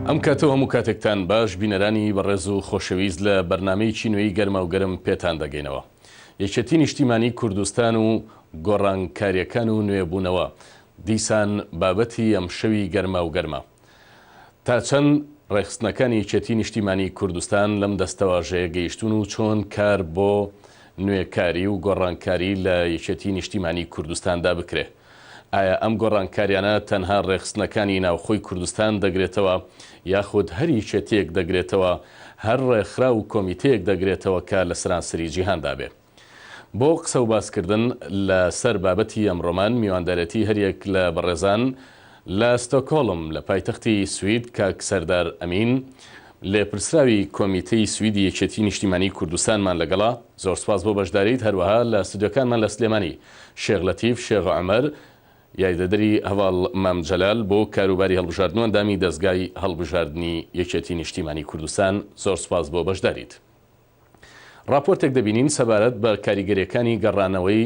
ئەم کاتە و هەموو کاتێکتان باش بینەرانی بەڕێز و خۆشەویست لە بەرنامەیەکی نوێی گەرماوگەرم پێتان دەگەینەوە یەکێتی نیشتیمانی کوردستان و گۆڕانکاریەکان و نوێبوونەوە دیسان بابەتی ئەمشەوی گەرماوگەرمە. تا چەند ڕێکخستنەکانی یەکێتی نیشتیمانی کوردستان لەم دەستەواژەیە گەیشتوون و چۆن کار بۆ نوێکاری و گۆڕانکاری لە یەکێتی نیشتیمانی کوردستاندا بکرێ؟ ئایا ئەم گۆڕانکاریانە تەنها ڕێکخستنەکانی ناوخۆی کوردستان دەگرێتەوە یاخود هەر یەکێتییەک دەگرێتەوە، هەر ڕێکخراو و کۆمیتەیەک دەگرێتەوە کە لە سەرانسەری جیهاندا بێ؟ بۆ قسە و باسکردن لە سەر بابەتی ئەمڕۆمان میواندارێتی هەر یەک لە بەڕێزان لە ستۆکۆڵم لە پایتەختی سوید کاک سەردار ئەمین لێپرسراوی کۆمیتەی سویدی یەکێتی نیشتیمانی کوردستانمان لەگەڵە زۆر سوپاس بۆ بەشداریت هەروەها لە ستۆدیۆکانمان لە سلێمانی شێخ لەتیف شێخ عومەر، یاریدەدەری هەڤاڵ مام جەلال بۆ کاروباری هەڵبژاردن و ئەندامی دەزگای هەڵبژاردنی یەکێتی نیشتیمانی کوردستان، زۆر سوپاس بۆ بەشداریت. ڕاپۆرتێک دەبینین سەبارەت بە کاریگەریەکانی گەڕانەوەی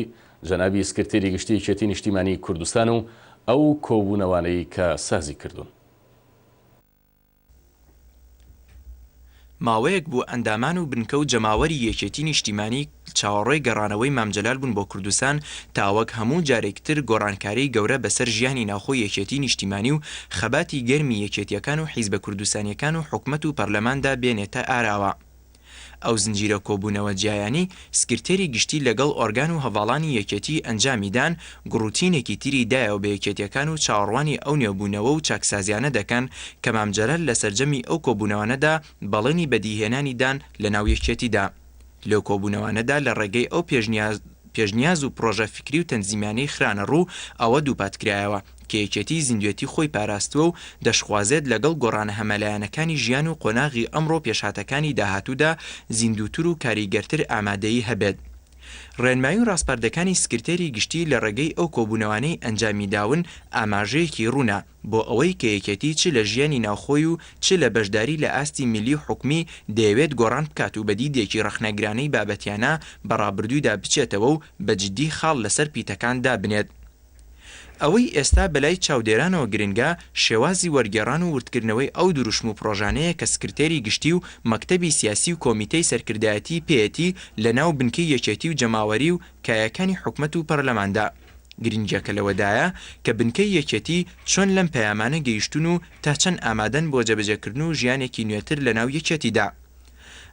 جەنابی سکرتێری گشتی یەکێتی نیشتیمانی کوردستان و ئەو کۆبوونەوانەی کە سازی کردوون. ماوەیەک بوو ئەندامان و بنکە و جەماوەری یەکێتی نیشتیمانی چاوەڕێی گەڕانەوەی مام جەلال بوون بۆ کوردستان تا وەک هەموو جارێک تر گۆڕانکاری گەورە بەسەر ژیانی ناوخۆی یەکێتی نیشتیمانی و خەباتی گەرمی یەکێتیەکان و حیزبە کوردستانیەکان و حکومەت و پەرلەماندا بێنێتە ئاراوە. ئەو زنجیرە کۆبوونەوە جیایانەی سکرتێری گشتی لەگەڵ ئۆرگان و هەڤاڵانی یەکێتی ئەنجامی دان، گوڕوتینێکی تری دایەوە بە یەکێتیەکان و چاوەڕوانی ئەو نوێبوونەوە و چاکسازیانە دەکەن کە مام جەلال لە سەرجەمی ئەو کۆبوونەوانەدا بەڵێنی بەدیهێنانی دان لە ناو یەکێتیدا لەو کۆبوونەوانەدا لە ڕێگەی ئەو پێشنیاز و پڕۆژە فکری و تەنزیمیانەی خرانە ڕوو ئەوە دووپات کرایەوە کە یەکێتیی زیندوێتی خۆی پاراستووە و دەشخوازێت لەگەڵ گۆڕانە هەمەلایەنەکانی ژیان و قۆناغی ئەمڕۆ و پێشهاتەکانی داهاتوودا زیندووتر و کاریگەرتر ئامادەیی هەبێت. ڕێنمایی و ڕاسپاردەکانی سکرتێری گشتی لە ڕێگەی ئەو کۆبوونەوانەی ئەنجامی داون ئاماژەیەکی ڕوونە بۆ ئەوەی کە یەکێتی چ لە ژیانی ناوخۆی و چ لە بەشداری لە ئاستی میللی و حکومی دەیەوێت گۆڕان بکات و بە دیدێکی ڕەخنەگرانەی بابەتیانە بە ڕابردوودا بچێتەوە و بە جدی خاڵ لەسەر پیتەکان دابنێت. ئەوەی ئێستا بەلای چاودێرانەوە گرنگە، شێوازی وەرگێڕان و وردکردنەوەی ئەو دروشم و پڕۆژانەیە کە سکرتێری گشتی و مەکتەبی سیاسی و کۆمیتەی سەرکردایەتیی پێیەتی لەناو بنکەی یەکێتی و جەماوەری و کایەکانی حکومەت و پەرلەماندا. گرنگییەکە لەوەدایە کە بنکەی یەکێتی چۆن لەم پەیامانە گەیشتوون و تا چەند ئامادەن بۆ جێبەجێکردن و ژیانێکی نوێتر لەناو یەکێتیدا.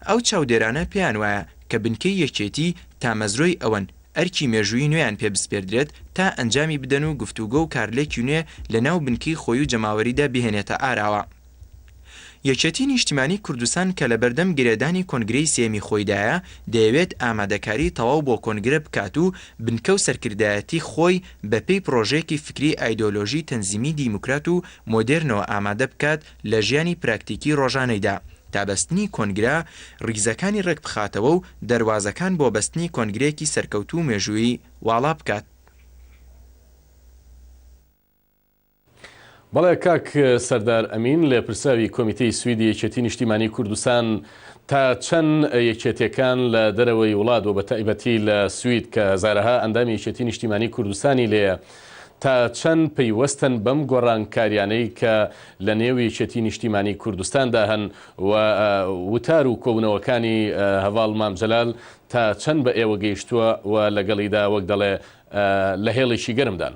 ئەو چاودێرانە پێیانوایە کە بنکەی یەکێتی تامەزرۆی ئەوەن، ئەرکی مێژوویی نوێیان پێ بسپێردرێت تا ئەنجامی بدەن و گفتوگۆ و کارلێکی نوێ لە ناو بنکەی خۆی و جەماوەریدا بهێنێتە ئاراوە. یەکێتی نیشتیمانی کوردستان کە لە بەردەم گرێدانی کۆنگرەی سێیەمی خۆیدایە، دەیەوێت ئامادەکاری تەواو بۆ کۆنگرە بکات و بنکە و سەرکردایەتی خۆی بە پێی پرۆژەیەکی فکری ئایدۆلۆژی تەنزیمی دیموکرات و مۆدێرنەوە ئامادە بکات لە ژیانی پراکتیکی ڕۆژانەیدا، تا بەستنی کۆنگرە ڕیزەکانی ڕێکبخاتەوە و دەروازەکان بۆ بەستنی کۆنگرەیەکی سەرکەوتوو و مێژوویی واڵا بکات. بەڵێ کاک سەردار ئەمین، لێپرسراوی کۆمیتەی سویدی یەکێتی نیشتیمانی کوردستان، تا چەند یەکێتیەکان لە دەرەوەی وڵات و بەتایبەتی لە سوید کە هەزارەها ئەندامی یەکێتی نیشتیمانی کوردستانی لێیە، تا چەند پەیوەستن بەم گۆڕانکاریانەی کە لە نێو یەکێتی نیشتیمانی کوردستاندا هەن و وتار و کۆبوونەوەکانی هەڤاڵ مام جەلال تا چەند بە ئێوە گەیشتووە و لەگەڵیدا وەک دەڵێ لە هێڵێکی گەرمدان؟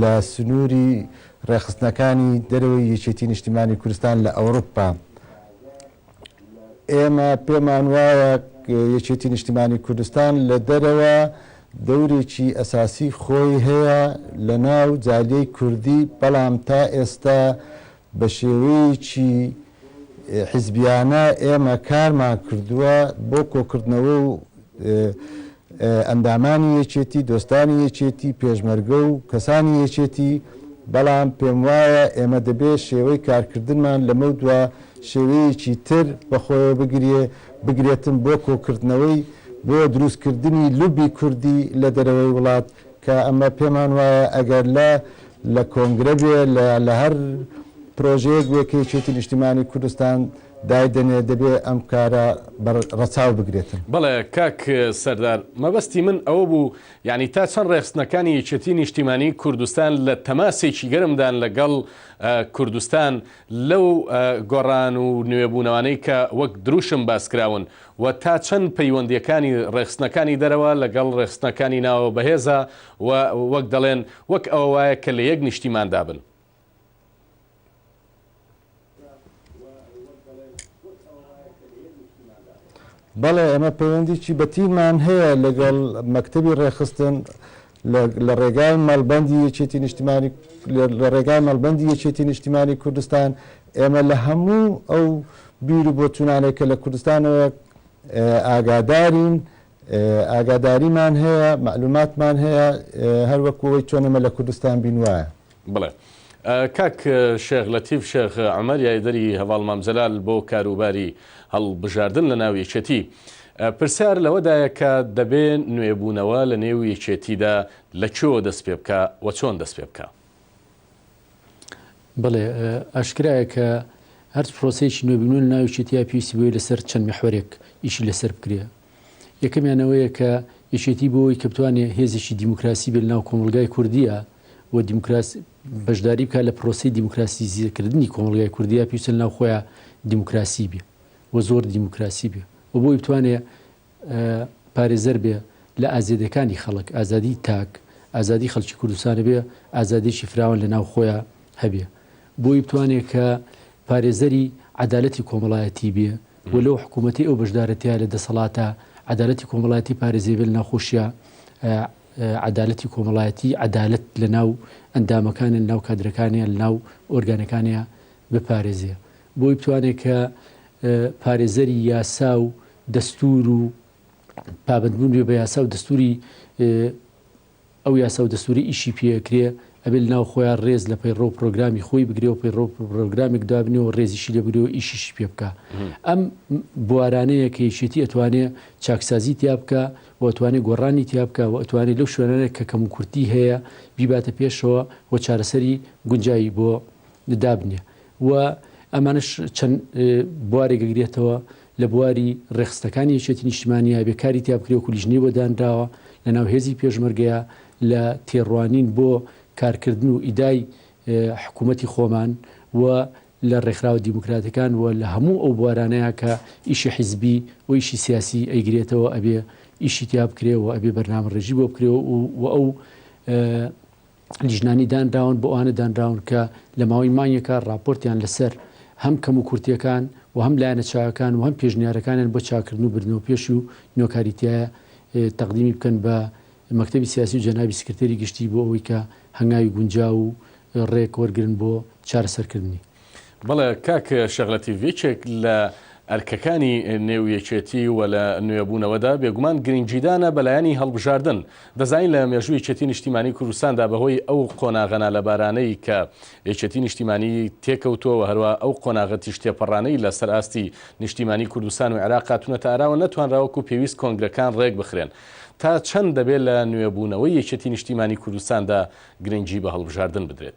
لە سنووری ڕێکخستنەکانی دەرەوەی یەکێتی نیشتیمانی کوردستان لە ئەوروپا ئێمە پێمان وایە یەکێتی نیشتیمانی کوردستان لە دەرەوە دەورێکی ئەساسی خۆی هەیە لە ناو جالیەی کوردی بەڵام تا ئێستا بە شێوەیەکی حیزبیانە ئێمە کارمان کردووە بۆ کۆکردنەوە و ئەندامانی یەکێتی، دۆستانی یەکێتی، پێشمەرگە و کەسانی یەکێتی، بەڵام پێم وایە ئێمە دەبێ شێوەی کارکردنمان لەمەودوا شێوەیەکی تر بەخۆیەوە بگرێ، بگرێتن بۆ کۆکردنەوەی، بۆ دروستکردنی لوبی کوردی لە دەرەوەی وڵات. کە ئەمە پێمان وایە ئەگەر لە لە کۆنگرە بێ لە لە هەر پرۆژەیەک بێ کە یەکێتی نیشتیمانی کوردستان دایدەنێ دەبێ ئەم کارە بە ڕەچاو بگرێتن. بەڵێ کاک سەردار، مەبەستی من ئەوە بوو یانی تا چەند ڕێخستنەکانی یەکێتی نیشتیمانی کوردستان لە تەماسێکی گەرمدان لە گەڵ کوردستان لەو گۆڕان و نوێبوونەوانەی کە وەک دروشم باس کراون و تا چەند پەیوەندییەکانی ڕێکخستنەکانی دەرەوە لەگەڵ ڕێکخستنەکانی ناوەوە بەهێزە و وەک دەڵێن وەک ئەوە وایە کە لە یەک نیشتیماندا بن. بەڵێ ئێمە پەیوەندیی بەتینمان هەیە لەگەڵ مەکتەبی ڕێکخستن، لە ڕێگای مەڵبەندی یەکێتی نیشتمانی لە ڕێگای مەڵبەندی یەکێتی نیشتیمانی کوردستان ئێمە لە هەموو ئەو بیر و بۆچوونانێک کە لە کوردستانەوە ئاگادارین ئاگاداریمان هەیە معلوماتمان هەیە هەروەکوەوەی چۆنەمە لە کوردستان بین وایە بڵێ کاک شێخ لەتیف شێخ عومەر یاێدەری هەڤاڵ مام جەلال بۆ کاروباری هەڵبژاردن لە ناو یەکێتی پرسیار لەوەدایە کە دەبێ نوێبوونەوە لە نێو یەکێتیدا لە کوێوە دەست پێ بکا و چۆن دەست پێ بکا؟ بەڵێ ئاشکرایە کە هەرچ پرۆسەیەکی نوێبوونەوە لە ناو یەکێتیا پێویستی بەوەیە لەسەر چەند میحوەرێک ئیشی لەسەر بکرێ یەکەمیان ئەوەیە کە یەکێتی بۆ ئەوەی کە بتوانێت هێزێکی دیموکراسی بێت لەناو کۆمەڵگای کوردیە و دیموکراس بەشداری بکات لە پرۆسی دیموکراسی زیرکردنی کۆمەڵگای کوردیا پێویستە لەناو خۆیان دیموکراسی بێ و زۆر دیموکراسی بێ و بۆی بتوانێت پارێزەر بێ لە ئازێدەکانی خەڵک ئازادی تاک ئازادی خەڵکی کوردستانە بێ ئازادێکی فراوان لە ناو خۆیان هەبێ بۆی بتوانێ کە پارێزەری عەدالەتی کۆمەڵایەتی بێ و لەو حکوومەتەی ئەو بەشدارە تیا لە دەسەڵاتە عەدالەتی کۆمەڵایەتی پارێزێ بێ لە ناو خۆشیا عەدالەتی کۆمەڵایەتی عەدالەت لە ناو ئەندامەکانیان لە ناو کادرەکانیان لە ناو ئۆرگانەکانیا بپارێزێ بۆی بتوانێت کە پارێزەری یاسا و دەستور و پابندبوون بێ بە یاسا و دەستوری ئەو یاساو دەستورەی ئیشی پێ ئەکرێ ئەبێ لەناو خۆیا رێز لە پەیڕەو پرۆگرامی خۆی بگرێ و پەیڕەو پرۆگرامێک دابنێ و رێزیشی لێ بگرێ و ئیشیشی پێ بکا ئەم بوارانەیە کە یەکێتی ئەتوانێ چاکسازی تیا بکا و ئەتوانێ گۆڕانی تیا بکا و ئەتوانێ لەو شوێنانە کە کەموکورتی هەیە بیباتە پێشەوە و چارەسەری گونجاوی بۆ دابنێ و ئەمانش چەند بوارێک گرێتەوە لە بواری ڕێخستەکانی یەکێتی نیشتمانیا بێ کاری تیابکرێک و لیژنەی بۆ دانراوە لە ناو هێزی پێشمەرگەیە لە تێڕوانین بۆ کارکردن و ئیدای حکوومەتی خۆمان و لە ڕێکخراوە دیموکراتەکان و لە هەموو ئەو بوارانەیە کە ئیشی حیزبی و ئیشی سیاسی ئەیگرێتەوە ئەبێ ئیشی تیا بکرێەوە ئەبێ بەرنامە ڕێژی بۆ بکرێەوە و ئەو لیژنانی دانراون بۆ ئەوانە دانراون کە لە ماوەی مانگێکا ڕاپۆرتیان لەسەر هەم کەموکورتییەکان و هەم لایەنە چاکەکان و هەم پێشنیارەکانیان بۆ چاککردن و بردنەوە پێش و نوێکاری تایە تەقدیمی بکەن بە مەکتەبی سیاسی و جەنابی سکرتێری گشتی بۆ ئەوەی کە هەنگاوی گونجاو و ڕێک وەرگرن بۆ چارەسەرکردنی. بەڵێ کاک شێخ لەتیف یەکێک لە ئەرکەکانی نێو یەکێتی و لە نوێبوونەوەدا بێگومان گرنگیدانە بە لایەنی هەڵبژاردن دەزانین لە مێژوو یەکێتی نیشتیمانی کوردستاندا بەهۆی ئەو قۆناغە نالەبارانەی کە یەکێتی نیشتیمانی تێکەوتووەوە هەروە ئەو قۆناغە تیژ تێپەڕانەی لە سەر ئاستی نیشتیمانی کوردستان و عێراق هاتوونەتە ئاراوە نەتوانراوەکو پێویست کۆنگرەکان ڕێک بخرێن تا چەند دەبێت لە نوێبوونەوەی یەکێتی نیشتیمانی کوردستاندا گرنگی بە هەڵبژاردن بدرێت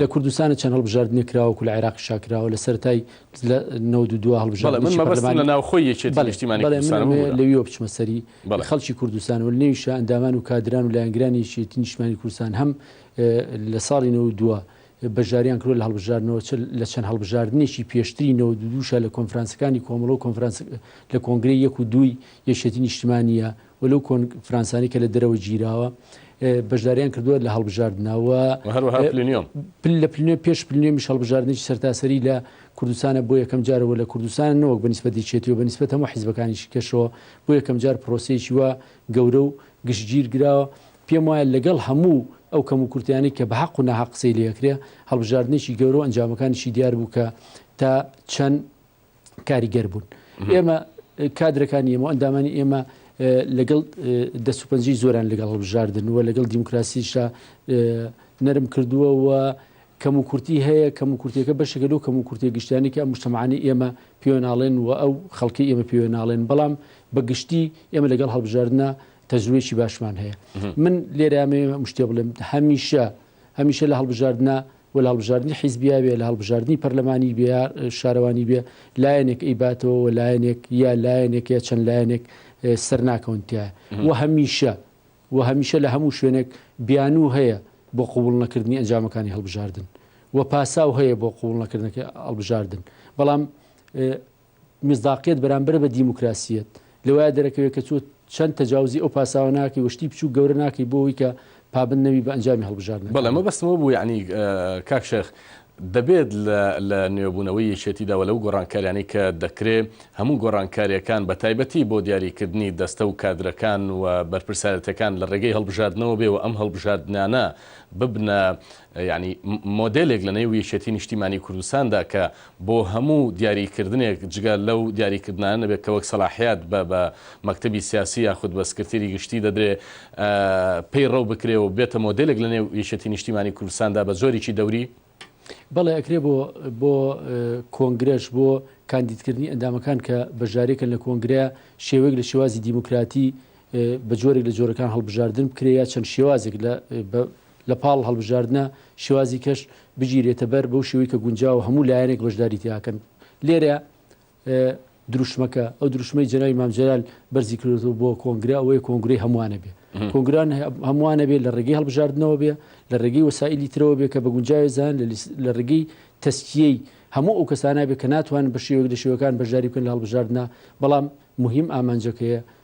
لە کوردستان چەند هەڵبژاردنێک کراوە وەکو لە عێراقیشا کراوە لە سەرەتای لە نەوەد و دو هەڵبژاردنی بەڵێ من مەبەستم پەرلەمانی لە ناوخۆی یەکێتی بەڵێ نیشتیمانی بەڵێ من کوردستانە ئەمەوێ ببورە لەویەوە بچمە سەری بەڵێ خەڵکی کوردستان و لەنێویشا ئەندامان و کادران و لایەنگرانی یەکێتی نیشتمانی کوردستان هەم ە لە ساڵی نەوەد و دو بەشداریان کردوە لە هەڵبژاردنەوە چ لە چەند هەڵبژاردنێکی پێشتری نەوەد و دووشا لە کۆنفرانسەکانی کۆمەڵە و کۆنفرانس لە کۆنگرەی یەک و دووی یەکێتی نیشتمانیە و لەو کۆنفرانسانەی کە لە دەرەوە گیراوە بەشداریان کردووە لە هەڵبژاردنا و و هەروەها پلینیۆم. پل لە پلینیۆم پێش پلینیۆمیش هەڵبژاردنێکی سەرتاسەری لە کوردستانە بۆ یەکەم جارە و لە کوردستانە نەوەک بە نیسبەت یەکێتی و بە نیسبەت هەموو حیزبەکانیشی کەشەوە بۆ یەکەم جار پرۆسەیەکی وا گەورە و گشتگیر گراوە پێم وایە لەگەڵ هەموو ئەو کەموکورتیانەی کە بە هەق و ناهەق قسەی لێ ئەکرێ هەڵبژاردنێکی گەورە و ئەنجامەکانیشی دیار بوو کە تا چەند کاریگەر بوون ئێمە کادرەکانی ئێمە ئەندامانی ئێمە لەگەڵ دەسوپەنجی زۆران لەگەڵ هەڵبژاردن و لەگەڵ دیموکراسیشا نەرم کردووە و کەم و کورتی هەیە کەم و کورتەکە بەشەکە لەو کەم و کورتێ گشتیانی کە ئەم مشتمانی ئێمە پێوەناڵێن و ئەو خەڵکی ئێمە پێوەناڵێن بەڵام بە گشتی ئێمە لەگەڵ هەڵبژاردنە تەجروێکی باشمان هەیە من لێرامێ مشتێ بڵێم هەمیشە هەمیشە لە هەڵبژاردنە و لە هەڵبژاردنی حیزبییا بێ، لە هەڵبژاردنی پەرلەمانی بێ یا شارەوانی بێ، لایەنێک ئەیباتەوە و لایەنێک یا لایەنێک یا چەند لایەنێک سەر ناکەون تیایا و هەمیشە و هەمیشە لە هەموو شوێنێک بیانوو هەیە بۆ قبووڵ نەکردنی ئەنجامەکانی هەڵبژاردن و پاساو هەیە بۆ قبووڵ نەکردنەکەی هەڵبژاردن بەڵام میسداقیەت بەرامبەر بە دیموکراسیەت لەوەیا دەرەکەوێت کە تۆ چەند تەجاوزی ئەو پاساوە ناکەی و شتی بچوک گەورە ناکەی بۆ ئەوەی کە پابەند نەبی بە ئەنجامی هەڵبژاردنەکان. بەڵێ مەبەستم ئەوە بوو یەعنی کاک شێخ دەبێت لە لە نوێبوونەوەی یەکێتیدا و لەو گۆڕانکاریانەی کە دەکرێ هەموو گۆڕانکاریەکان بە تایبەتی بۆ دیاریکردنی دەستە و کادرەکان و بەرپرسارەتەکان لە ڕێگەی هەڵبژاردنەوە بێ و ئەم هەڵبژاردنانە ببنە یانی مۆدێلێک لە نێو یەکێتی نیشتیمانی کوردستاندا کە بۆ هەموو دیاری کردنێک جگە لەو دیاری کردنانە نەبێت کە وەک سەلاحیات بە بە مەکتەبی سیاسی یاخود بە سکرتێری گشتی دەدرێ پەی ڕەو بکرێ و بێتە مۆدێلێک لە نێو یەکێتی نیشتیمانی کوردستاندا بە جۆریی دەوری بەڵێ ئەکرێ بۆ بۆ کۆنگرەش بۆ کاندیدکردنی ئەندامەکان کە بەژارێکن لە کۆنگرە شێوەیەک لە شێوازی دیموکراتی بە جۆرێک لە جۆرەکان هەڵبژاردن بکرێ یا چەند شێوازێک لە لە پاڵ هەڵبژاردنە شێوازی کەش بگیرێتە بەر بەو شێوەی کە گونجاوە هەموو لایەنێک بەشداری تیاکەن لێرە دروشمەکە ئەو دروشمەی جەناوی مامجلال بەرزی کردو بۆ کۆنگرا ئەوەیە کۆنگری هەمووانە بێ کۆنگران هەمووانە بێ لە ڕێگەی هەڵبژاردنەوە بێ لە ڕێگەی وسائلی ترەوە بێ کە بە گونجاوی زان لە ڕێگەی تەسکیەی هەموو ئەو کەسانە بێ کە ناتوان بە شێوەک لە شێوەکان بەشداری بکەن لە هەڵبژاردنە بەڵام مهم ئامانجەکەیە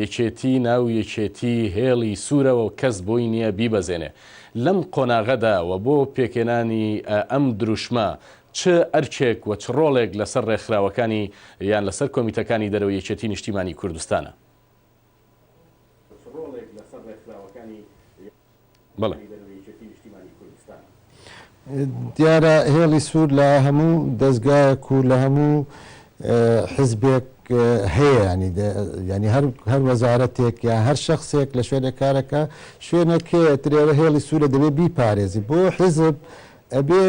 یەکێتی ناو یەکێتی هێڵی سورەوە کەس بۆی نیە بیبەزێنێ لەم قۆناغەدا وە بۆ پێکێنانی ئەم دروشمە چ ئەرکێک وە چ ڕۆڵێک لەسەر ڕێکخراوەکانی یان لەسەر کۆمیتەکانی دەرەوەی یەکێتی نیشتیمانی کوردستانە. دیارە هێڵی سوور لە هەموو دەزگایەک و لە هەموو حزبێک هەیە ینی هەر وەزارەتێک یا هەر شخصێک لە شوێنە کارەکە شوێنەکەێ ترێرە هێڵی سوورە دەبێت بیپارێزی بۆ حزب ئەبێ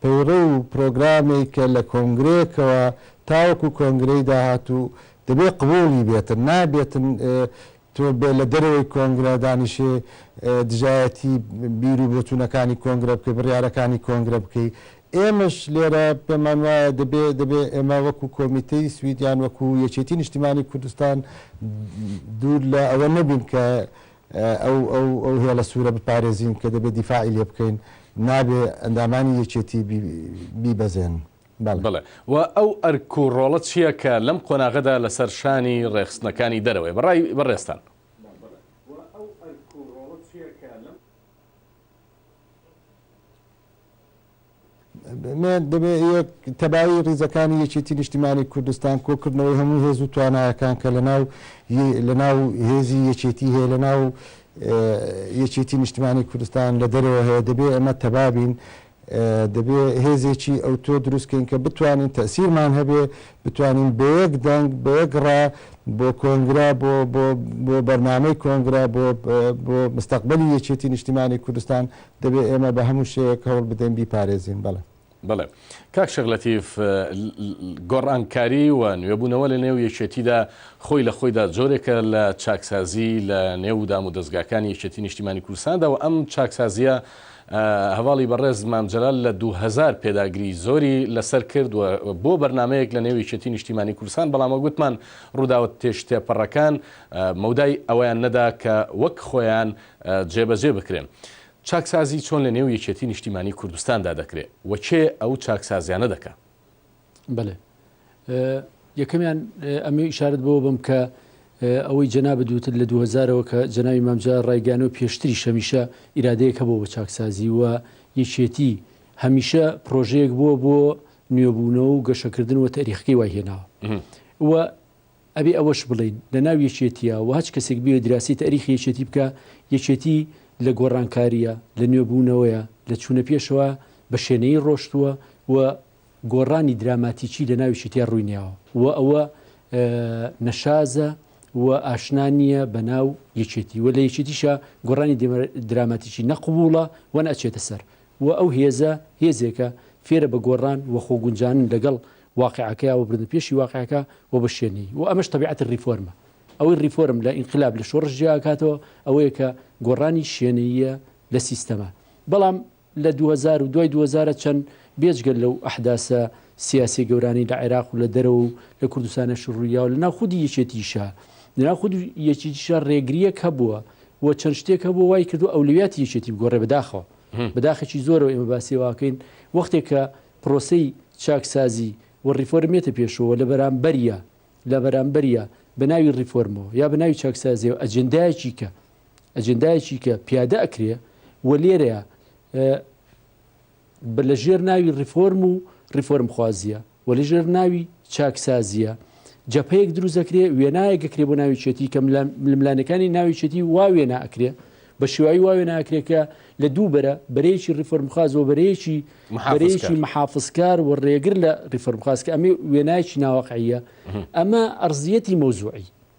پەیڕە و پرۆگرامێک کە لە کۆنگرەیەکەوە تاوەکو کۆنگرەی داهاتوو دەبێت قووڵی بێتن نابێتن تۆ بێ لە دەرەوەی کۆنگرە دانیشێ دژایەتی بیر و بۆچوونەکانی کۆنگرە بکەی، بڕیارەکانی کۆنگرە بکەی. ئێمەش لێرە پێمان وایە دەبێ دەبێ ئێمە وەکوو کۆمیتەی سوید یان وەکوو یەکێتی نیشتیمانی کوردستان دوور لە ئەوە نەبین کە ئەو ئەو ئەو هێڵە سوورە بپارێزین کە دەبێ دیفاعی لێ بکەین. نابێ ئەندامانی یەکێتی بیبەزێن. بەڵێ. و ئەو ئەرک و ڕۆڵە چییە کە لەم قۆناغەدا لەسەر شانی ڕێکخستنەکانی دەرەوەیە بە ڕای بەڕێزتان؟ بەڵێ. دەبێ یەک تەبایی ڕیزەکانی یەکێتی نیشتیمانی کوردستان، کۆکردنەوەی هەموو هێز و توانایەکان کە لەناو لەناو هێزی یەکێتی هەیە، لەناو یەکێتی نیشتمانی کوردستان لە دەرەوە هەیە، دەبێ ئەمە تەبا بین، دەبێ هێزێکی ئەوتۆ دروست کەین کە بتوانین تەئسیرمان هەبێ، بتوانین بە یەک دەنگ، بە یەک ڕا بۆ کۆنگرە، بۆ بۆ بۆ بەرنامەی کۆنگرە، بۆ بۆ مستەقبەلی یەکێتی نیشتیمانی کوردستان، دەبێ ئێمە بە هەموو شێوەیەک هەوڵ بدەین بیپارێزین. بەڵێ. بەڵێ. کاک شێخ لەتیف، گۆڕانکاری و نوێبوونەوە لە نێو یەکێتیدا خۆی لە خۆیدا جۆرێکە لە چاکسازی لە نێو دامودەزگاکانی یەکێتی نیشتیمانی کوردستاندا و ئەم چاکسازییە هەڤاڵی بەڕێز مام جەلال لە دوو هەزار پێداگری زۆری لەسەر کرد و بۆ بەرنامەیەک لە نێو یەکێتی نیشتیمانی کوردستان بەڵام وەک وتمان ڕووداوە تێشتێپەڕەکان مەودای ئەوەیان نەدا کە وەک خۆیان جێبەجێ بکرێن. چاکسازی چۆن لە نێو یەکێتی نیشتیمانی کوردستاندا دەکرێ و کێ ئەو چاکسازیانە دەکا؟ بەلێ یەکەمیان ئەمەی ئشارت بۆ بم کە ئەوەی جەنا بدوتت لە 2000ەوە کە جەناوی مامجا ڕایگەانەوە پێشتری شەمیشە ئیرادەیەکە بۆ بە چاکسازی و یەکێتی هەمیشە پرۆژەیەک بووە بۆ نوێبوونەوە و گەشەکردن و تەریخەکەی وای هێناوە و ئەبێ ئەوەش بڵین لە ناو یەکێتیە و هەچ کەسێک بێ دراسی تاریخ یەکێتی بکە یەکێتی لە گۆڕانکاریە لە نوێبوونەوەیە لە چوونە پێشەوە بە شێنەی ڕۆشتووە و گۆڕانی دراماتیکی لە ناوی شیتێ ڕووی نیاوە و ئەوە نەشازە و ئاشنا نییە بە ناو یەکێتی و لە یەکێتیشە گۆڕانی دراماتیکی نەقبووڵە وەن ئەچێتە سەر و ئەو هێزە هێزێکە فێرە بە گۆڕان و خۆگونجانن لەگەڵ واقعەکەیا و بردن پێشی واقعەکە و بە شوێنی و ئەمەش تەبیعەتی ریفۆرمە ئەوەی ریفۆرم لە ئینقلاب لە شۆڕژیاکاتەوە ئەوەیە کە گۆڕانی شوێنەیە لە سیستەما بەڵام لە دووهەزار و دوای دووهەزارە چەند بێجگە لەو ئەحداسە سیاسیە گەورانەی لە عێراق و لە دەرەوە و لە کوردستانەش ڕوویاو لە ناو خودی یەکێتیشا لە ناو خود یەکیتیشا ڕێگریەک هەبووە و چەند شتێک هەبووە وای کردووە ئەولەویاتی یەکێتی بگۆڕێ بەداخەوە بەداخێکی زۆرەوە ئێمە باسی واکەین وەختێک کە پرۆسەی چاکسازی و ڕیفۆرمێتە پێشەوە لە بەرامبەریا لە بەرامبەریا بە ناوی ڕیفۆرمەوە یا بە ناوی چاکسازیەوە ئەجندایەکی کە ئەجندایەکی کە پیادە ئەکرێ و لێرەیە بە لە ژێر ناوی ڕیفۆرم و ڕیفۆرم خوازیە و لە ژێر ناوی چاکسازیە جەپەیەک دروست دەکرێ وێنایە گەکرێ بۆ ناوی چێتی کەم لەملانەکانی ناوی چێتی وا وێنا ئەکرێ بە شێوایی واوێ ناکرێکە لە دوو بەرە بەرەیەکی ڕیفۆرمخواز و بەرەیەکی بەرەیەکی محافزکار و ڕێگر لە ڕیفۆرمخواز کە ئەمە وێنایکی ناوەقعە ئەمە ئەرزیەتی مەوزوعی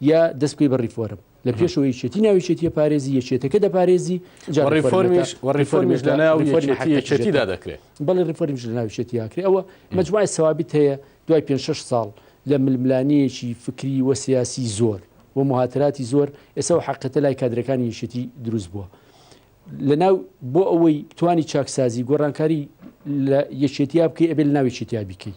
یا دەست بکەی بە ڕیفۆرم لە پێشەوە یەکێتی ناو یەکێتیە پارێزی یەکێتەکە دەپارێزی جا و ڕیفۆرمیش و ڕیفۆرمیش لە ناو ڕیفۆرمی یەکێتی حەقی یەکێتیدا یەکێتیدا دەکرێت بەڵێ ڕیفۆرمیش لە ناو یەکێتیدا کرێ ئەوە مەجموعی سەوابت هەیە دوای پێنج شەش ساڵ لە ململانێیەکی فکری و سیاسی زۆر و موهاتراتی زۆر ئێستا و حەقەتە لای کادرەکانی یەکێتی دروست بووە لە ناو بۆ ئەوەی بتانی چاکسازی گۆڕانکاری لە یەکێتیا بکەی ئەبێ لە ناو یەکێتیا بیکەی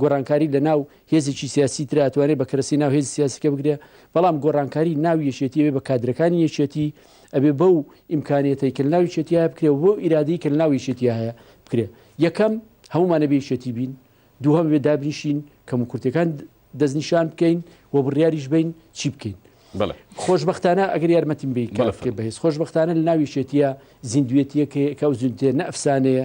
گۆڕانکاری لە ناو هێزێکی سیاسی ترا ئەتوانێت بە کەرەسی ناو هێزی سیاسیکە بگرێ بەڵام گۆڕانکاری ناو یەکێتی ئەوێ بە کادرەکانی یەکێتی ئەبێ بەو ئیمکانیەتەی کە ناوی چێتیە بکرێ بۆ ئیرادی کە ناوی چێتی هەیە بکرێ یەکەم هەمومانە بێچێتی بین دووهم بێ دابنیشین کەم و کورتەکان دەستنیشان بکەین و بڕیاریش بین چی بکەین خۆشببختانە ئەگەر یارمەتیم بی بەهێز خۆشببختانە لە ناوی شێتیە زیندوێتیەکە کە ئەو زیندێ نەفسانەیە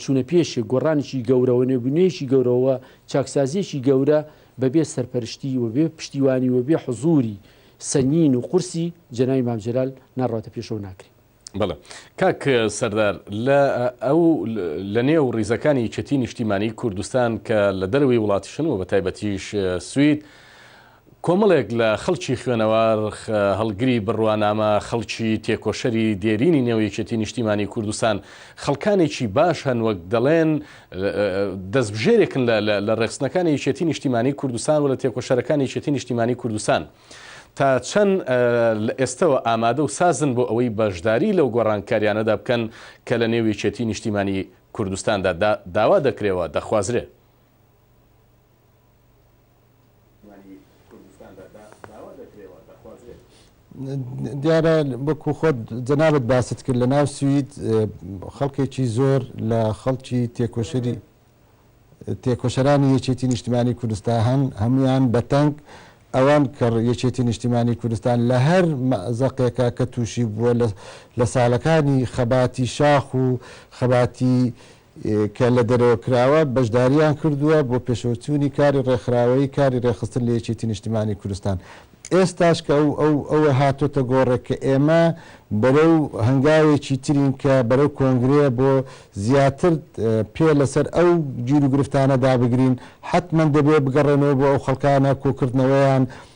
چوونە پێشێ گۆڕانێکی گەورەوە نێبوونەیەکی گەورەوە چاکسازیەکی گەورە بەبێ سەرپەرشتی و بێ پشتیوانی و بێ حزوری سەنگین و قورسی جەنای مامجلال ناڕاتە پێشەوە ناکرێت. بەڵێ کاک سەردار لە ئەو لە نێو ڕیزەکانی یەکێتی نیشتیمانی کوردستان کە لە دەروی وڵاتیشن و بە تایبەتیش سوید کۆمەڵێک لە خەڵکی خوێنەوار، هەڵگری بڕوانامە، خەڵکی تێکۆشەری دێرینی نێو یەکێتی نیشتیمانی کوردستان، خەڵکانێکی باش هەن وەک دەڵێن دەستبژێرێکن لە ڕێخستنەکانی یەکێتی نیشتیمانی کوردستان و لە تێکۆشەرەکانی یەکێتی نیشتیمانی کوردستان تا چەند لە ئێستەوە ئامادە و سازن بۆ ئەوەی بەشداری لەو گۆڕانکاریانەدا بکەن کە لە نێو یەکێتی نیشتیمانی کوردستاندا داوا دەکرێ و دەخوازرێ. دیارە وەکو خۆت جەنابت باست کرد لە ناو سوید خەڵکێکی زۆر لە خەڵکی تێکۆشەری تێکۆشەرانی یەکێتی نیشتمانی کوردستان هەن هەمویان بەتەنگ ئەوان کە یەکێتی نیشتیمانی کوردستان لە هەر مەزەقێکە کە تووشی بووە لە ساڵەکانی خەباتی شاخ و خەباتی کە لە دەرەوە کراوە، بەشدارییان کردووە بۆ پێشەوەچوونی کاری ڕێکخراوەیی کاری ڕێکخستن لە یەکێتی نیشتمانی کوردستان. ئێستاش کە ئەو هاتۆتە گۆڕێ کە ئێمە بەرەو هەنگاوێکی ترین کە بەرەو کۆنگرەیە بۆ زیاتر پێ لەسەر ئەو گیروگرفتانە دابگرین، حەتمەن دەبێ بگەڕێنەوە بۆ ئەو خەڵکانە کۆکردنەوەیان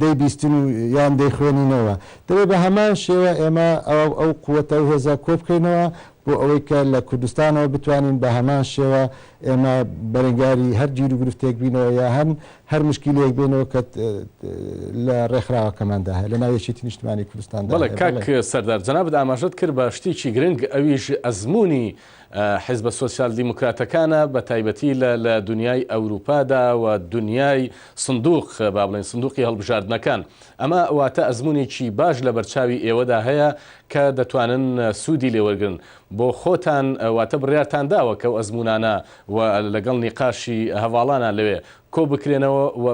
دەیبیستین و یان دەیخوێنینەوە. دەبێت بە هەمان شێوە ئێمە ئەو قووتە و هێزە کۆ بکەینەوە بۆ ئەوەی کە لە کوردستانەوە بتوانین بە هەمان شێوە ئێمە بەرەنگاری هەر گیر و گرفتێک بینەوە یا هەن هەر مشکیلەیەک بێنەوە کە لە ڕێکخراوەکەماندا هەیە لە ناو یەکێتی نیشتمانی کوردستاندا هەیە. بەڵێ کاک سەردار جەنابت ئاماژەت کرد بە شتێکی گرنگ ئەویش ئەزموونی حیزبە سۆسیال دیموکراتەکانە بە تایبەتی لە لە دونیای ئەوروپادا و دونیای سندوق با بڵێین سندوقی هەڵبژاردنەکان ئەمە واتە ئەزمونێکی باش لە بەرچاوی ئێوەدا هەیە کە دەتوانن سودی لێ وەرگرن بۆ خۆتان واتە بڕیارتان داوە کەو ئەزمونانە و لەگەڵ نیقاشی هەڤاڵانە لەوێ کۆبکرێنەوە و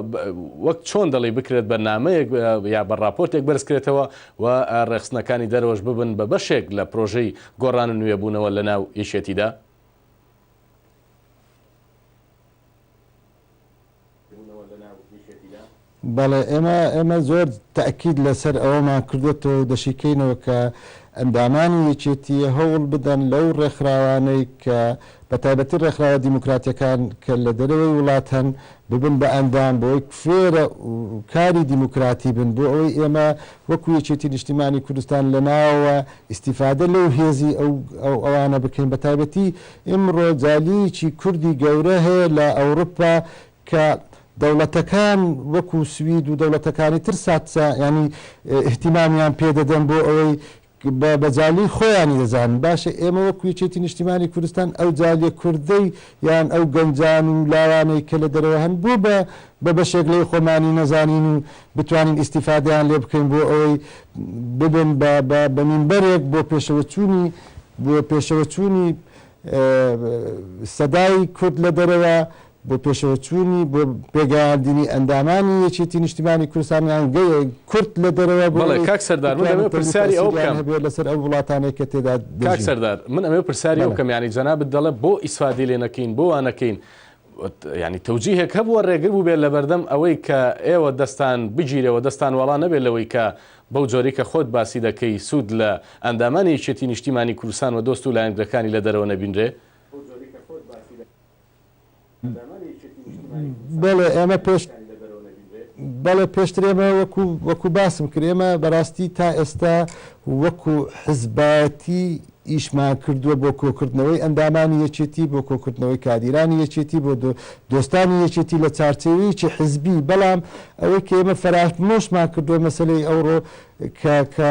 وەک چۆن دەڵێی بکرێت بە نامەیەک یا بە ڕاپۆرتێک بەرزکرێتەوە و ڕێکخستنەکانی دەرەوەش ببن بە بەشێک لە پرۆژەی گۆڕان و نوێبوونەوە لەناو یەکێتیدا؟ بەڵێ، ئێمە ئێمە زۆر تەئکید لەسەر ئەوەمان کردۆتەوە و دەشیکەینەوە کە ئەندامانی یەکێتیی هەوڵ بدەن لەو ڕێکخراوانەی کە بە تایبەتی ڕێکخراوە دیموکراتیەکان کە لە دەرەوەی وڵات هەن ببن بە ئەندام بۆ ئەوەی فێرە کاری دیموکراتی بن بۆ ئەوەی ئێمە وەکو یەکێتی نیشتیمانی کوردستان لە ناوەوە ئیستیفادە لەو هێزی ئەو ئەوانە بکەین بە تایبەتی ئیمڕۆ جالیەکی کوردی گەورە هەیە لە ئەوڕپا کە دەوڵەتەکان وەکو سوید و دەوڵەتەکانی تر ساتسا یانی ئیهتیمامیان پێ دەدەن بۆ ئەوەی بە بە جالی خۆیانی دەزانن، باشە ئێمە وەکو یەکێتی نیشتیمانی کوردستان ئەو جالیە کوردەی یان ئەو گەنجان و لاوانەی کە لە دەرەوە هەن بۆ بە بە بەشێک لەوەی خۆمانی نەزانین و بتوانین ئیستیفادەیان لێ بکەین بۆ ئەوەی ببن بە بە بە مینبەرێک بۆ پێشەوەچوونی بۆ پێشەوەچوونی سەدای کورد لە دەرەوە بۆ پێشەوەچوونی بۆ پێگەیاندنی ئەندامانی یەکێتی نیشتیمانی کوردستان یان کورد لە دەرەوە بۆ ئەوەی بتوانن تەولی تاسیریان هەبێت لەسەر ئەو وڵاتانەی کە تێدا دەژین. کاک سەردار من ئەمەوێ پرسیاری بکەم یانی جەنابت دەڵێ بۆ ئیسفادەی لێ نەکەین بۆ وا نەکەین یانی تەوجیهێک هەبووە ڕێگر بووبێت لەبەردەم ئەوەی کە ئێوە دەستان بگیرەوە دەستان وەڵا نەبێت لەوەی کە بەو جۆری کە خۆت باسی دەکەی سوود لە ئەندامانی یەکێتی نیشتیمانی کوردستان و دۆست و لایەنگرەکانی لە دەرەوە نەبینرێ؟ بەڵێ ئێمە پێش بەڵێ پێشتر ئێمە وەکو وەکو باسم کرد ئێمە بەڕاستی تا ئێستا وەکو حزبایەتی ئیشمان کردووە بۆ کۆکردنەوەی ئەندامانی یەکێتی بۆ کۆکردنەوەی کادیرانی یەکێتی بۆ دۆستانی یەکێتی لە چارچەوەیەکی حزبی بەڵام ئەوەی کە ئێمە فەرامۆشمان کردووە مەسلەی ئەوڕۆ کە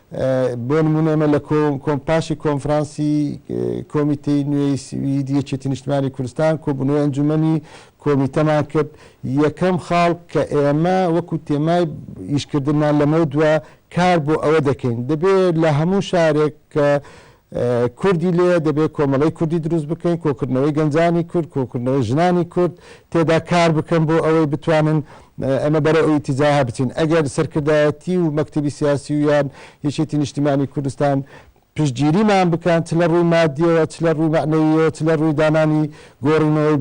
بۆ نموونە ئێمە لە پاشی کۆنفرانسی کۆمیتەی نوێی سویدی یەکێتی نیشتمانی کوردستان کۆبوونەوەی ئەنجومەنی کۆمیتەمان کرد یەکەم خاڵ کە ئێمە وەکو تێمای ئیشکردنمان لەمەو دوا کار بۆ ئەوە دەکەین دەبێت لە هەموو شارێک کە کوردی لێیە، دەبێت کۆمەڵەی کوردی دروست بکەین، کۆکردنەوەی گەنجانی کورد، کۆکردنەوەی ژنانی کورد تێدا کار بکەن بۆ ئەوەی بتوانن ئەمە بەرەو ئەو ئیتیجاهە بچین. ئەگەر سەرکردایەتی و مەکتەبی سیاسی و یان یەکێتی نیشتیمانی کوردستان پشتگیریمان بکەن چ لە ڕووی مادییەوە، چ لە ڕووی مەعنەوییەوە، چ لە ڕووی دانانی گۆڕینەوەی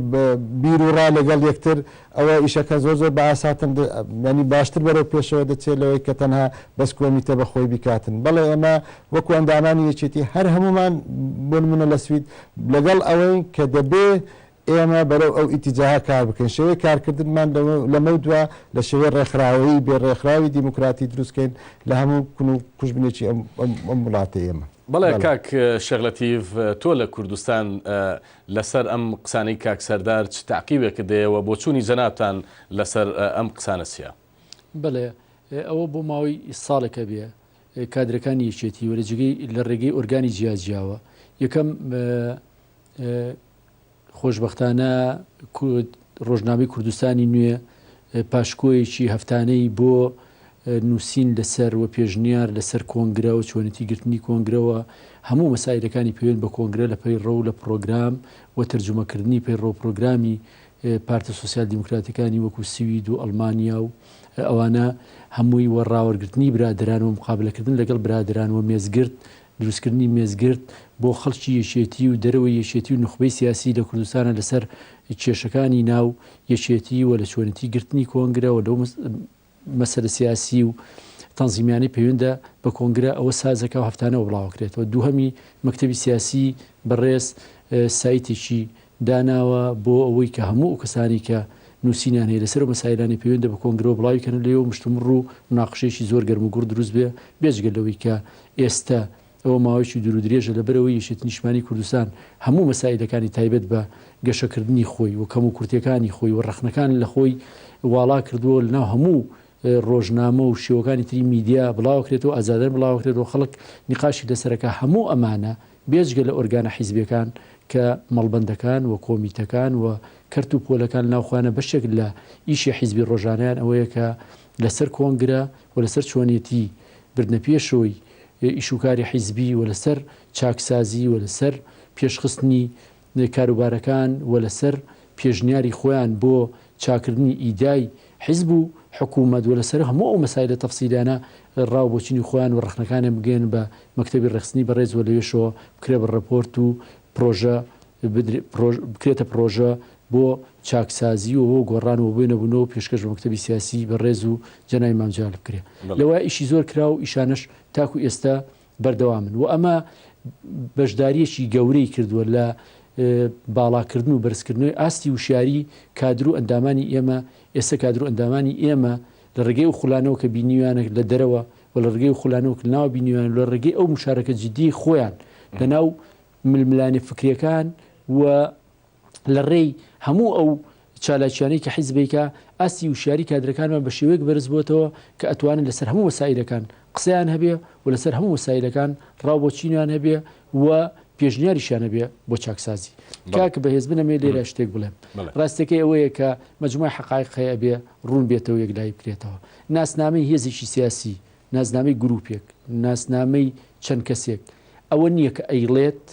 بیروڕا لەگەڵ یەکتر، ئەوە ئیشەکە زۆر زۆر بە ئاساتر دە یانی باشتر بەرەو پێشەوە دەچێت لەوەی کە تەنها بەس کۆمیتە بە خۆی بیکاتن بەڵێ ئێمە وەکو ئەندامانی یەکێتی هەر هەموومان بۆ نمونە لە سوید لەگەڵ ئەوەین کە دەبێ ئێمە بەرەو ئەو ئیتیجاهە کار بکەین شێوەی کارکردنمان لەوە لەمەو دوا لە شێوەی ڕێکخراوەیی بێ ڕێکخراوی دیموکراتی دروست کەین لە هەموو کون و کوژبنێکی ئەم ئەم ئەم وڵاتەی ئێمە. بەڵێ کاک شێخ لەتیف تۆ لە کوردستان لەسەر ئەم قسانەی کاک سەردار چ تەعقیبێکت دەیە وە بۆچوونی جەنابتان لەسەر ئەم قسانە چیە؟ بەڵێ ئەوە بۆ ماوەی ساڵێک ئەبێ کادرەکانی یەکێتی وە لە جێگەی لە ڕێگەی ئۆرگانی جیاجیاوە یەکەم خۆشبەختانە ڕۆژنامەی کوردستانی نوێ پاشکۆیەکی هەفتانەی بۆ نووسین لەسەر و پێشنیار لەسەر کۆنگرە و چۆنێتی گرتنی کۆنگرەوە هەموو مەسایلەکانی پەیوەند بە کۆنگرە لە پەیڕەو لە پڕۆگرام و تەرجومەکردنی پەیڕەو پرۆگرامی پارتە سوسیال دیموکراتەکانی وەکو سوید و ئەڵمانیا و ئەوانە هەمووی وە ڕاوەرگرتنی برادران و مقابلەکردن لەگەڵ برادران و مێزگرت دروستکردنی مێزگرد بۆ خەڵکی یەکێتی و دەرەوەی یەکێتی و نوخبەی سیاسی لە کوردستانە لەسەر کێشەکانی ناو یەکێتی و لە چۆنێتی گرتنی کۆنگرە و لەو مەسەلە سیاسی و تەنزیمیانەی پەیوەندە بە کۆنگرە ئەوە سازەکە و هەفتانەوە بڵاوەکرێتەوە دووهەمی مەکتەبی سیاسی بەڕێز سایتێکی داناوە بۆ ئەوەی کە هەموو ئەو کەسانەی کە نووسینیان هەیە لەسەر ئەو مەسایلانەی پەیوەندە بە کۆنگرەوە بڵاوی کەن و لێوە مشتومڕ و موناقشەیەکی زۆر گەرم و گوڕ دروست بێ بێجگە لەوەی کە ئێستە ئەوە ماوەیەکی دوور و درێژە لەبەر ئەوەی یەکێتی نیشتمانی کوردستان هەموو مەسایلەکانی تایبەت بە گەشە کردنی خۆی و کەم و کورتیەکانی خۆی و ڕەخنەکان لە خۆی واڵا کردووە و لەناو هەموو ڕۆژنامە و شێوەکانی تری میدیا بڵاوەکرێتەوە ئازادانە بڵاوەکرێتەوە خەڵک نیقاشی لەسەر ئەکا هەموو ئەمانە بێجگە لە ئۆرگانە حیزبیەکان کە مەڵبەندەکان و کۆمیتەکان و کەرت و پۆلەکان ناوخۆیانە بەشێک لە ئیشی حیزبی ڕۆژانەیان ئەوەیە کە لە سەر کۆنگرە و لە سەر چۆنیەتی بردنە پێشۆی ئیش و کاری حیزبی و لە سەر چاکسازی و لە سەر پێشخستنی نێ کاروبارەکان و لەسەر پێشنیاری خۆیان بۆ چاکردنی ئیدای حیزب و حکوومەت و لەسەر هەموو ئەو مەسایلە تەفسیلیانە ڕاو بۆچونی خۆیان و ڕەخنەکانیان بگەیەنن بە مەکتەبی ڕێکخستنی بەڕێز و لەوێشەوە بکرێ بە ڕێپۆرت و پڕۆژە بدرێ پڕۆژ بکرێتە پڕۆژە بۆ چاکسازی و بۆ گۆڕان و بۆ نەبوونەوە پێشکەش بە مەکتەبی سیاسی بەڕێز و جەنابی مام جەلال بکرێ بەڵێ. لەوە ئیشی زۆر کرا و ئیشانەش تاکوو ئێستا بەردەوامن و ئەمە بەشدارییەکی گەورەی کردووە لە باڵاکردن و بەرزکردنەوەی ئاستی وشیاریی کادر و ئەندامانی ئێمە، ئێستە کادر و ئەندامانی ئێمە لە ڕێگەی ئەو خولانەوە کە بینیویانە لە دەرەوە و لە ڕێگەی ئەو خولانەوە کە لە ناوە بینیویانە و لە ڕێگەی ئەو مشارەکە جیددییەی خۆیان لە ناو ململانێ فکرییەکان و لە ڕێی هەموو ئەو چالاکیانەی کە حیزبێکە، ئاستی وشیاری کادرەکانمان بە شێوەیەک بەرز بۆتەوە کە ئەتوانن لەسەر هەموو مەسائیلەکان قسەیان هەبێ و لەسەر هەموو مەسائیلەکان ڕاو بۆ چینیان هەبێ و پێشنیاریشیان هەبێ بۆ چاکسازی. کاک بەهێز بنەمێ لێرە شتێک بڵێم. ڕاستیەکەی ئەوەیە کە مەجموعی حەقایق هەیە ئەبێ ڕوون بێتەوە یەکلایی بکرێتەوە. ناسنامەی هێزێکی سیاسی، ناسنامەی گرووپێک، ناسنامەی چەند کەسێک ئەوە نییە کە ئەیڵێت،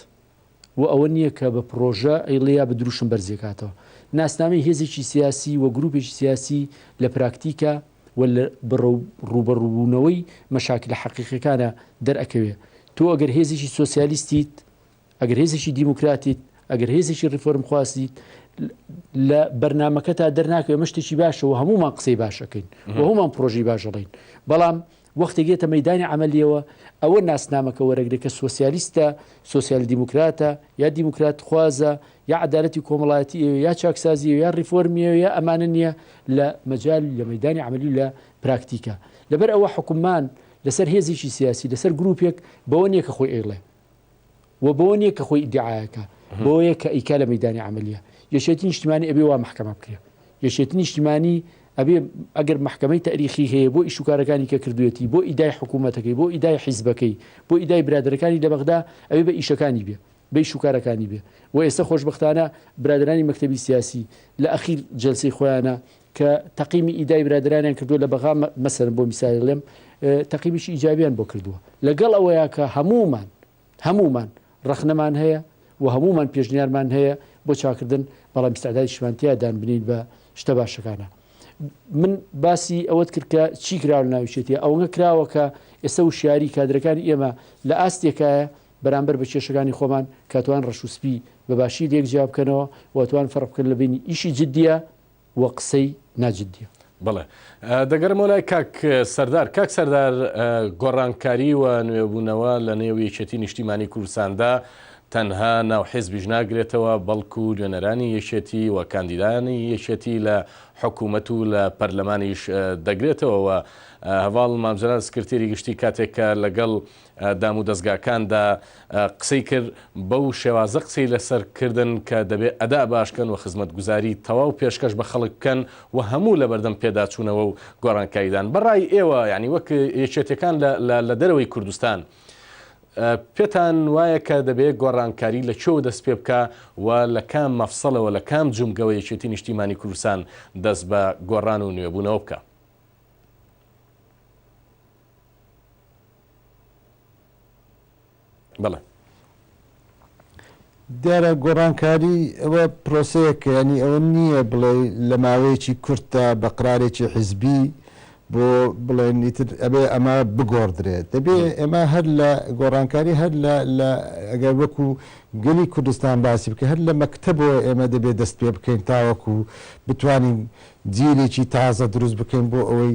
بۆ ئەوە نییە کە بە پڕۆژە ئەیڵێ یا بە دروشم بەرزی ئەکاتەوە. ناسنامەی هێزێکی سیاسی و گرووپێکی سیاسی لە پراکتیکە و لە ڕووبەڕووبوونەوەی مەشاکیلە حەقیقییەکانا دەرئەکەوێ. تۆ ئەگەر هێزێکی سۆسیالیستیت، ئەگەر هێزێکی دیموکراتیت، ئەگەر هێزێکی ڕیفۆرمخوازیت، لە بەرنامەکەتا دەرناکەوێ. ئەمە شتێکی باشە و هەموومان قسەی باش ئەکەین و هەموومان پڕۆژەی باش ئەڵێین. بەڵام وەختێک یەتە مەیدانی عەمەلیەوە ئەوە ناسنامەکە وەرەگرێ کە سۆسیالیستە، سۆسیال دیموکراتە، یا دیموکرات خوازە، یا عەدالەتی کۆمەڵایەتی ەوێ، یا چاکسازی ەوێ، یا ڕیفۆرمی ەوێ، یا ئەمانە نیە لە مەجال و لە مەیدانی عەمەلی و لە پراکتیکا. لەبەر ئەوە حوکممان لەسەر هێزێکی سیاسی، لەسەر گروپێک بەوە نیە کە خۆی ئەیڵێ. و بەوە نیە کە خۆی ئیدعایەکە بۆیە کە ئیکا لە مەدانی عملیە یەکێتی نیشتمانی ئەبێ وا محکەمە بکرێ یەکێتی نیشتمانی ئەبێ ئەگەر محکمەی تاریخی هەیە بۆ ئیشوکارەکانی کە کردوێتی بۆ ئیدای حکوومەتەکەی بۆ ئیدای حیزبەکەی بۆ ئیدای برادەکانی لە بەغدا ئەوێ بە ئیشەکانی بێ بەی شوکارەکانی بێ و ئێستا خۆشببختانە برادرانی مەکتتەبی سیاسی لە ئەخیر جلسی خۆیانە کە تەقیمی ئیدای برادەرانیان کردووە لە بەغا مەسەرن بۆ میسالی ڵێم تەقیمیشی ئیجابیان بۆ کردووە لەگەڵ ئەوەیە کە هەمومان هەمومان ڕخنەمان هەیە و هەمومان پێشنیارمان هەیە بۆ چاکردن بەڵام میسعدای شمانتیا دان بنین بە شتە باشەکانە من باسی ئەوەت کرد کە چی کرا لە ناوچێتی ئەوەنگە کراوە کە ئێستا و شاری کادرەکانی ئێمە لە ئاستێکایە بەرامبەر بە کێشەکانی خۆمان کاتوان ڕەشوسپی بەباشی لێک جیاب بکەنەوە وتوان فەرق بکەن لە بینی ئیشی جددیە و قسەی نا جدیە. بەڵێ دەگەرمەوە لای کاک سەردار. کاک سەردار گۆڕانکاری و نوێبوونەوە لە نێو یەکێتی نیشتیمانی کوردستاندا تەنها ناو حیزبیش ناگرێتەوە بەڵکو نوێنەرانی یەکێتی و کاندیدانی یەکێتی لە حکوومەت و لە پەرلەمانیش دەگرێتەوە و هەڤاڵ مامجەلال سکرتێری گشتی کاتێک کە لەگەڵ دامودەزگاکاندا قسەی کرد، بەو شێوازە قسەی لەسەر کردن کە دەبێ ئەدا باش کەن و خزمەتگوزاری تەواو پێشکەش بە خەڵک بکەن و هەموو لەبەردەم پێداچوونەوە و گۆڕانکاریدان بەڕای ئێوە یانی وەک یەکێتیەکان لە لە دەرەوەی کوردستان پێتان وایە کە دەبێ گۆڕانکاری لە کوێوە دەست پێ بکا و لە کام مەفسەلەوە لە کام جومگەوە یەکێتی نیشتیمانی کوردستان دەست بە گۆڕان و نوێبوونەوە بکا؟ بەڵێ. دیارە گۆڕانکاری ئەوە پرۆسەیەک کە یانی ئەوە نییە بڵێ لە ماوەیەکی کورتدا بە قرارێکی حیزبی بۆ بڵێن ئیتر ئەبێ ئەمە بگۆڕدرێت دەبێ ئێمە هەر لە گۆڕانکاری هەر لە ئەگەر وەکو گەلی کوردستان باسی بکە هەر لە مەکتەبەوە ئێمە دەبێت دەست پێ بکەین تاوەکو بتوانین جیلێکی تازە دروست بکەین بۆ ئەوەی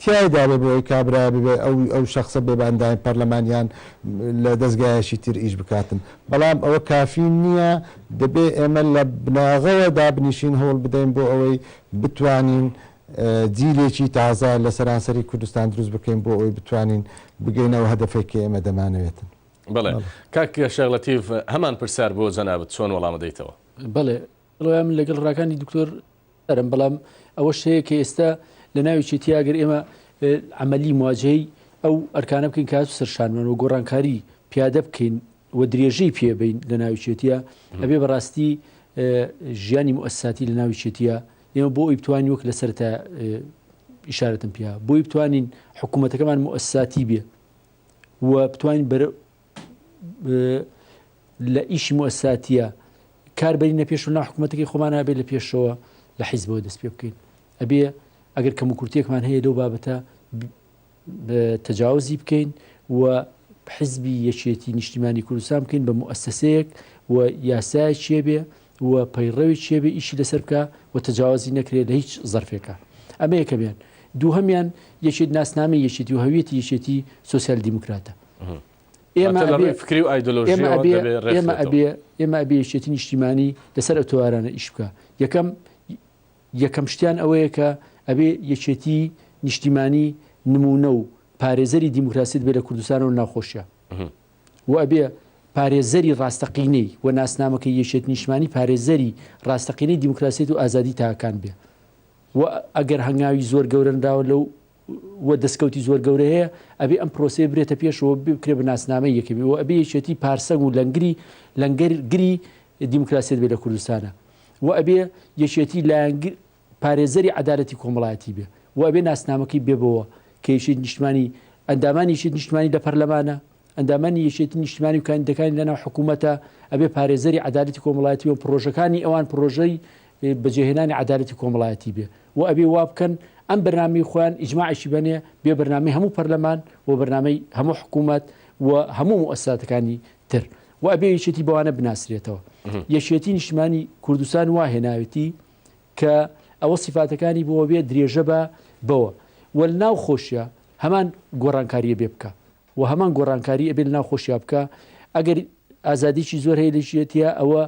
تیایدا بێ بۆی کابرایە ببێ ئەو ئەو شەخسە بێ بانداین پەرلەمان یان لە دەزگایەکی تر ئیش بکاتن بەڵام ئەوە کافی نیە دەبێ ئێمە لە بناغەوە دابنیشین هەوڵ بدەین بۆ ئەوەی بتوانین جیلێکی تازە لە سەرانسەری کوردستان دروست بکەین بۆ ئەوی بتوانین بگەینەوە هەدەفێک کە ئێمە دەمانەوێتن بڵێ کاک شەغلەتیف هەمان پرسیار بۆ جەنابەت چۆن وەڵامەدەیتەوە بڵێ ڕۆیان من لەگەڵ ڕاکانی دکتۆر رم بەڵام ئەوەش هەیە کە ئێستا لە ناویی تیاگەر ئێمە ئەمەلی مواجهی ئەو ئەرکانە بکەین کات و سەرشانمان و گۆڕانکاری پیادە بکەین و درێژەی پێبین لە ناوچێتە ئەبێ بەڕاستی ژیانی موساتی لە ناوچێتە ئێمە بۆ ئەی بتوانین وەک لە سەرتا ئشارەتم پیا بۆی بتوانین حکوومەتەکەمان موساتی بێ و بتوانین بەر لە ئیشی موساتیە کار بەرینە پێش و ناحکوومەتەکەی خۆمان نابێ لە پێشەوە لە حیزبەوە دەست پێ بکەین ئەبێ ئەگەر کەم و کورتێکمان هەیە لەو بابەتە تەجاوزی بکەین و حزبی یەکێتی نیشتیمانی کوردستان بکەین بە موسسەیەک و یاسای چێ بێ و پەیڕەوی چێ بێ ئیشی لەسەر بکە و تەجاوازی نەکرێت لە هیچ زەرفێکە ئەمەیەکە بێن دووهمیان یەکێت ناسنامە یەکێتی و هەویەتی یەکێتی سوسیال دیموکراتە ئێمە فکری و ئایدۆلۆژیمە ئەبێ ئێمە ئەبێ یەکێتی نیشتیمانی لەسەر ئە تۆوارانە ئیش بکە یەکەم یەکەم شتیان ئەوەیە کە ئەبێ یەکێتی نیشتیمانی نمونە و پارێزەری دیموکراسیت بێ لە کوردستانەوە ناخۆشە و ئەبێ پارێزەری ڕاستەقینەی و ناسنامەکە یەکێت نیشمانی پارێزەری ڕاستەقینەی دیموکراسیت و ئازادی تاکان بێ و ئەگەر هەنگاوی زۆر گەورەنراوە لەو و دەسکەوتی زۆر گەورە هەیە، ئەبێ ئەم پرۆسەیە ببرێتە پێشەوە و بکرێ بە ناسنامەی یەکێتی و ئەبێ یەکێتی پارسەنگ و لەنگری لەنگەر گری دیموکراسیەت بێ لە کوردستانا و ئەبێ یەکێتی لایەنگ پارێزەری عەدالەتی کۆمەڵایەتی بێ و ئەبێ ناسنامەکەی بێ بەوە کە یەکێتی نیشتمانی ئەندامانی یەکێتی نیشتمانی لە پەرلەمانە ئەندامانی یەکێتی نیشتمانی و کاندیدەکانی لەناو حکوومەتە، ئەبێ پارێزەری عەدالەتی کۆمەڵایەتی بن، پڕۆژەکانی ئەوان پڕۆژەی بەجێهێنانی عەدالەتی کۆمەڵایەتی بێ و ئەبێ وا بکەن ئەم بەرنامەی خۆیان ئیجماعیشی بەنێ بێ بەرنامەی هەموو پەرلەمان و بەرنامەی هەموو حکوومەت و هەموو موئەسساتەکانی تر و ئەبێ یەکێتی بەوانە بناسرێتەوە. یەکێتی نیشتمانی کوردستان وا هێناوێتی کە ئەوە سیفاتەکانی بۆ بێ درێژە بە بەوە و ناوخۆشیە هەمان گۆڕانکاریە بێ بکا وە هەمان گۆڕانکاری ئەبێ لەناو خۆشیا بکا ئەگەر ئازادیی زۆر هەیە لە ژێتیا ئەوە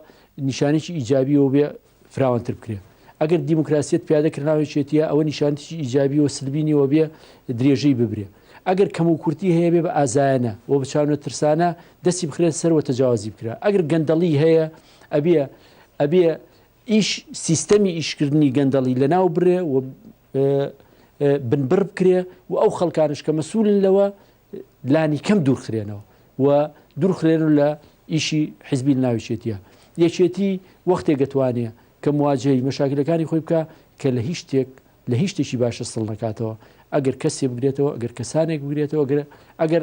نیشانێکی ئیجابیەوە بێ فراوانتر بکرێ ئەگەر دیموکراسیت پیادە کرناوی چێتیە ئەوە نیشانتیی ئیجابی و سلبینیەوە بێ درێژەی ببرێ ئەگەر کەم و کورتی هەیە بێ بە ئازایانە و بچوە ترسانە دەستی بخرێت سەروە تەجاوازی بکرا ئەگەر گەندەڵی هەیە ئەبێ ئەبێ ئیش سیستەمی ئیشکردنی گەندەڵی لەناو برێ و بنبڕ بکرێ و ئەو خەڵکانش کە مەسوولن لەوە لانی کەم دوورخرێنەوە و دوورخرێن و لە ئیشی حزبی ناوچێتیە یەکێتی وەختێک گەتوانێ کە مواجهی مەشاکلەکانی خۆی بکە کە لە هیچ شتێک لە هیچ شتێکی باشە سڵ نکاتەوە ئەگەر کەسێ بگرێتەوە ئەگەر کەسانێک بگرێتەوە گرە ئەگەر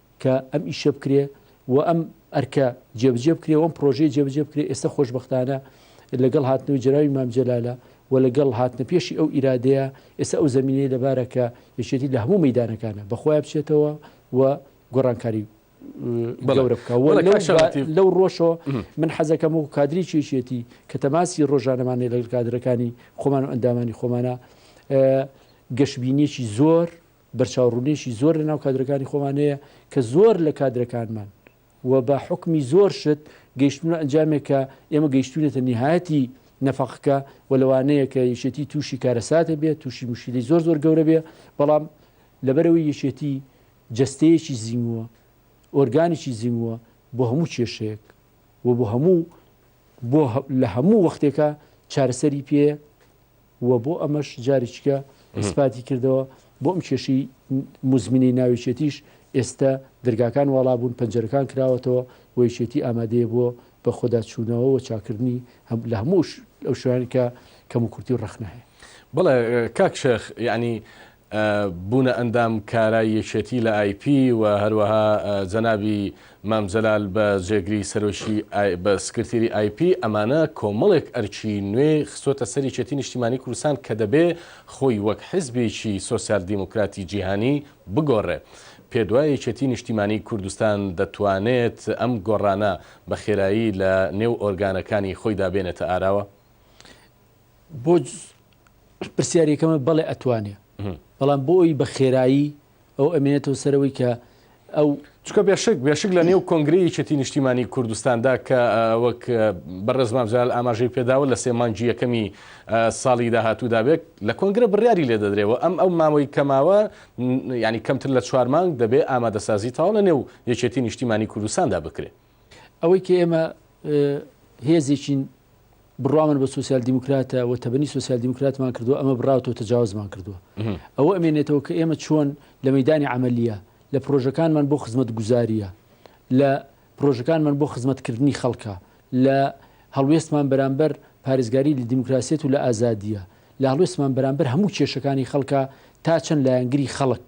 کە ئەم ئیشە بکرێ و ئەم ئەرکە جێبجێ بکرێ و ئەم پرۆژەی جێبجێ بکرێ ئێستا خۆشببختانە لەگەڵ هاتنەوەی جراوی مامجلالە و لەگەڵ هاتنە پێشی ئەو ئیرادەیە ئێستا ئەو زمینەی لەبارەکە یەکێتی لە هەموو مەدانەکانە بەخۆیان بچێتەوە و گۆڕانکاری بەڵەورە بکەوە لەو ڕۆژەوە من حەزەکەم و کادری چێشێتی کە تەماسی ڕۆژانەمانی لەگەڵ کادرەکانی خۆمان و ئەندامانی خۆمانە گەشببینیەکی زۆر بەرچاوڕوونیەکی زۆر لەناو کادرەکانی خۆمان هەیە کە زۆر لە کادرەکانمان و بە حوکمی زۆر شت گەیشتوونە ئەنجامێک کە ئێمە گەیشتوونەتە نیهایەتی نەفەقەکە و لەوانەیە کە یەکێتی تووشی کارەساتێ بێت تووشی موشکیلی زۆر زۆر گەورە بێ بەڵام لەبەرەوەی یەکێتی جەستەیەکی زیمووە ئۆرگانیی زیمووە بۆ هەموو کێشەیەک و بۆ هەموو بۆ لە هەموو وەختێکە چارەسەری پێ و بۆ ئەمەش جاریکە ئیسپاتی کردەوە، بۆ ئەم کێشەی موزمینەی ناویچێتیش ئێستە دەرگاکان واڵابوون، پەنجەرەکان کراوەتەوە و یەکێتی ئامادەیە بۆ بەخۆداچوونەوە و چاککردنی لە هەموو ئەو شوێنانەی کە کەموکورتی و ڕەخنە هەیە. بەڵێ کاک شێخ، یەعنی بوونە ئەندام کارای یەکێتی لە ئای پی و هەروەها جەنابی مام جەلال بە جێگری سەرۆکی بە سکرتیری ئای پی ئەمانە کۆمەڵێک ئەرکی نوێ خستۆتە سەر یەکێتی نیشتیمانی کوردستان کە دەبێ خۆی وەک حزبێکی سۆسیال دیموکراتی جیهانی بگۆڕێ. پێت وایە یەکێتی نیشتیمانی کوردستان دەتوانێت ئەم گۆڕانە بە خێرایی لە نێو ئۆرگانەکانی خۆیدا بێنێتە ئاراوە؟ بۆ پرسیارەکەمە بەڵێ ئەتوانێ بەڵام بۆ ئەوی بە خێرایی ئەو ئەمێنێتەوە سەرەوەی کە ئەو چکە بێشک بێشک لە نێو کۆنگری یەکێتی نیشتیمانی کوردستاندا کە وەک بەڕێزمان جال ئاماژەی پێداوە لە سێ مانگی یەکەمی ساڵی داهاتوو دابێت لە کۆنگرە بڕیاری لێ دەدرێەوە ئەم ئەو ماوەی کەماوە ینی کەمتر لە چوار مانگ دەبێت ئامادەسازی تاڵە نێو یەکێتی نیشتیمانی کوردستاندا بکرێت. ئەوەی کە ئێمە هێزێکین بڕوامان بە سوسیال دیموکراتە و تەبنی سوسیال دیموکراتمان کردو ئەمە بڕاوتەوە تەجاوزمان کردووە ئەوە ئەمێنێتەوە کە ئێمە چۆن لە مەدانی عملیە لە پرۆژەکانمان بۆ خزمەت گوزاریە لە پرۆژەکانمان بۆ خزمەتکردنی خەڵکە لە هەڵوێستمان بەرامبەر پارێزگاری لە دیموکراسیەت و لە ئازادیە لە هەڵوێستمان بەرامبەر هەموو کێشەکانی خەڵکە تا چەند لایەنگری خەڵک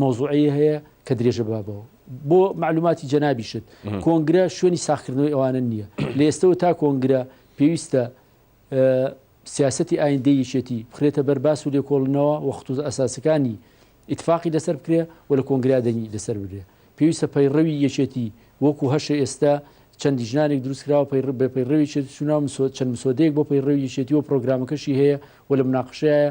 مەوزوعی هەیە کە درێژە بابەوە. بۆ مەعلوماتی جەنابیشت کۆنگرە شوێنی ساخکردنەوەی ئەوانە نییە لە ئێستەوە تا کۆنگرە پێویستە سیاستی ئایندەی یەکێتی بخرێتە بەر باس و لێکۆڵنەوە و خطوز ئەساسەکانی ئیتفاقی لەسەر بکرێ و لە کۆنگرا دەنگی لەسەر برێ پێویستە پەیڕەوی یەکێتی وەکو هەشە ئێستا چەندی ژنانێک دروستکراوە پەیڕ بە پەیڕەوی چێت سونا چەند مسۆدەیەک بۆ پەیڕەوی یەکێتی و پرۆگرامەکەشی هەیە و لە مناقشەیە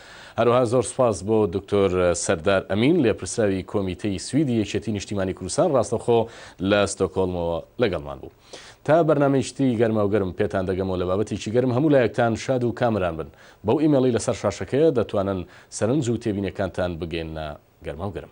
هەروەها زۆر سوپاس بۆ دکتۆر سەردار ئەمین، لێپرسراوی کۆمیتەی سویدی یەکێتی نیشتیمانی کوردستان ڕاستەوخۆ لە ستۆکهۆڵمەوە لەگەڵمان بوو. تا بەرنامەیەکی تری گەرماوگەرم پێتان دەگەمەوە لە بابەتێکی گەرم هەموو لایەکتان شاد و کامەران بن. بەو ئیمێڵەی لەسەر شاشەکەیە دەتوانن سەرنج و تێبینیەکانتان بگەیننە گەرماوگەرم.